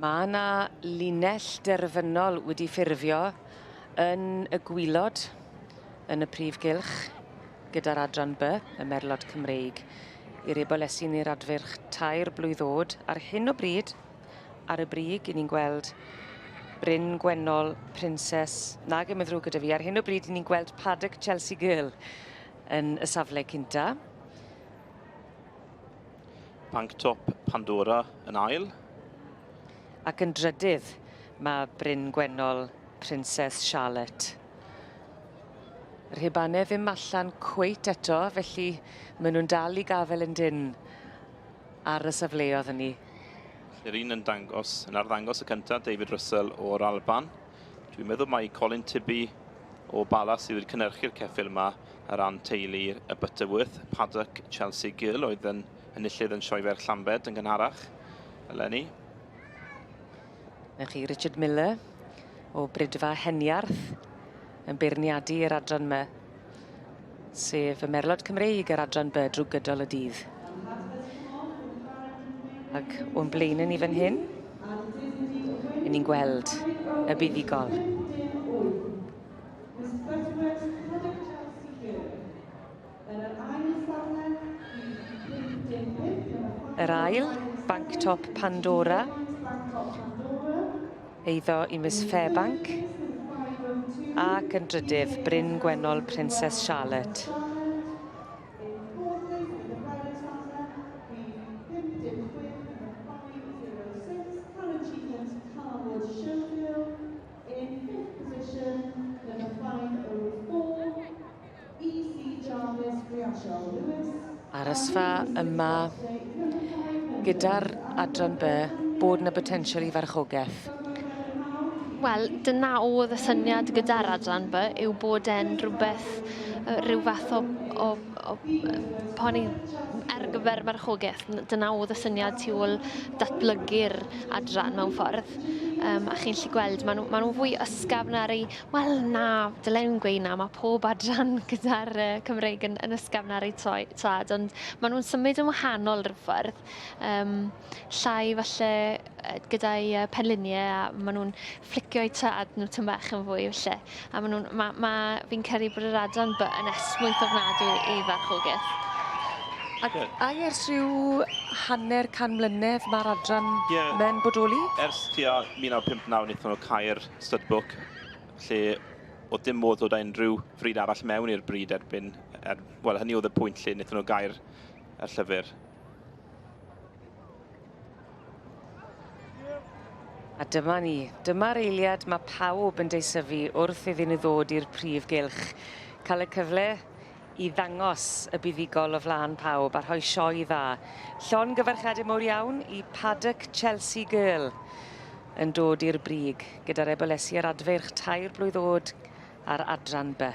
Mae yna linell derfynol wedi ffurfio yn y gwylod yn y prif gylch gyda'r adran B, y merlod Cymreig, i'r ebolesi neu'r adfyrch tair blwydd oed. Ar hyn o bryd, ar y brig, i ni'n gweld Bryn Gwennol, Princes, nag ymwydrw gyda fi. Ar hyn o bryd, i ni'n gweld Paddock Chelsea Girl. yn y safle cynta. Panc top Pandora yn ail. Ac yn drydydd, mae Bryn Gwennol Princess Charlotte. Yr hebane ddim allan cweit eto, felly maen nhw'n dal i gafel yn dyn ar y safleodd hynny. Yr un yn dangos, yn arddangos y cyntaf, David Russell o'r Alban. Dwi'n meddwl mai Colin Tibby o Bala sydd wedi cynhyrchu'r ceffyl yma ar ran teulu y Butterworth. Paddock Chelsea Gill oedd yn enillydd yn sioefer Llambed yn gynharach eleni. Mae chi Richard Miller o Bridfa Heniarth yn beirniadu yr adran yma. Sef y merlod Cymreig yr adran by drwy gydol y dydd. Ac o'n blaen ni fan hyn, yn ni'n gweld y buddugol. Yr ail, Banc Top Pandora. Eiddo i Miss Fairbank, ac yn drydydd, Bryn Gwennol Princess Charlotte. BC Jarvis Griachael Lewis, Arysfa yma gyda'r adran by bod yna botensial i farchogaeth? Wel, dyna oedd y syniad gyda'r adran by yw bod e'n rhywbeth, rhyw fath o, o, o poni ar gyfer marchogaeth. Dyna oedd y syniad tu ôl datblygu'r adran mewn ffordd. Um, a chi'n lli gweld, maen nhw'n ma nhw fwy ysgafn ar ei Wel na, dylai nhw'm gweud 'na, mae pob adran gyda'r Cymreig yn yn ysgafn ar eu toi- tad ond maen nhw'n symud yn wahanol rhyw ffordd. Yym llai falle yy gyda'i yy penliniau a maen nhw'n fflicio eu tad nhw tym bach yn fwy falle. A maen nhw'n ma' ma' fi'n credu bod yr adran by yn esmwyth ofnadwy i farchogaeth. Ac Ie. ac ers rhyw hanner can mlynedd ma'r adran Ie. 'ma'n bodoli? Ers tua 1959 nethon nhw cau'r studbook, lle oedd dim modd dod â unrhyw fryd arall mewn i'r bryd erbyn, er, wel, hynny oedd y pwynt lle wnaethon nhw gair y llyfr. A dyma ni, dyma'r eiliad mae pawb yn deisyfu wrth iddyn nhw ddod i'r prif gylch. Cael y cyfle i ddangos y buddugol o flaen pawb a rhoi sioe dda. Llongyfarchiadau mowr iawn i Paddock Chelsea Girl yn dod i'r brig gyda'r ebolesu ar adfeirch tair blwydd oed ar adran B.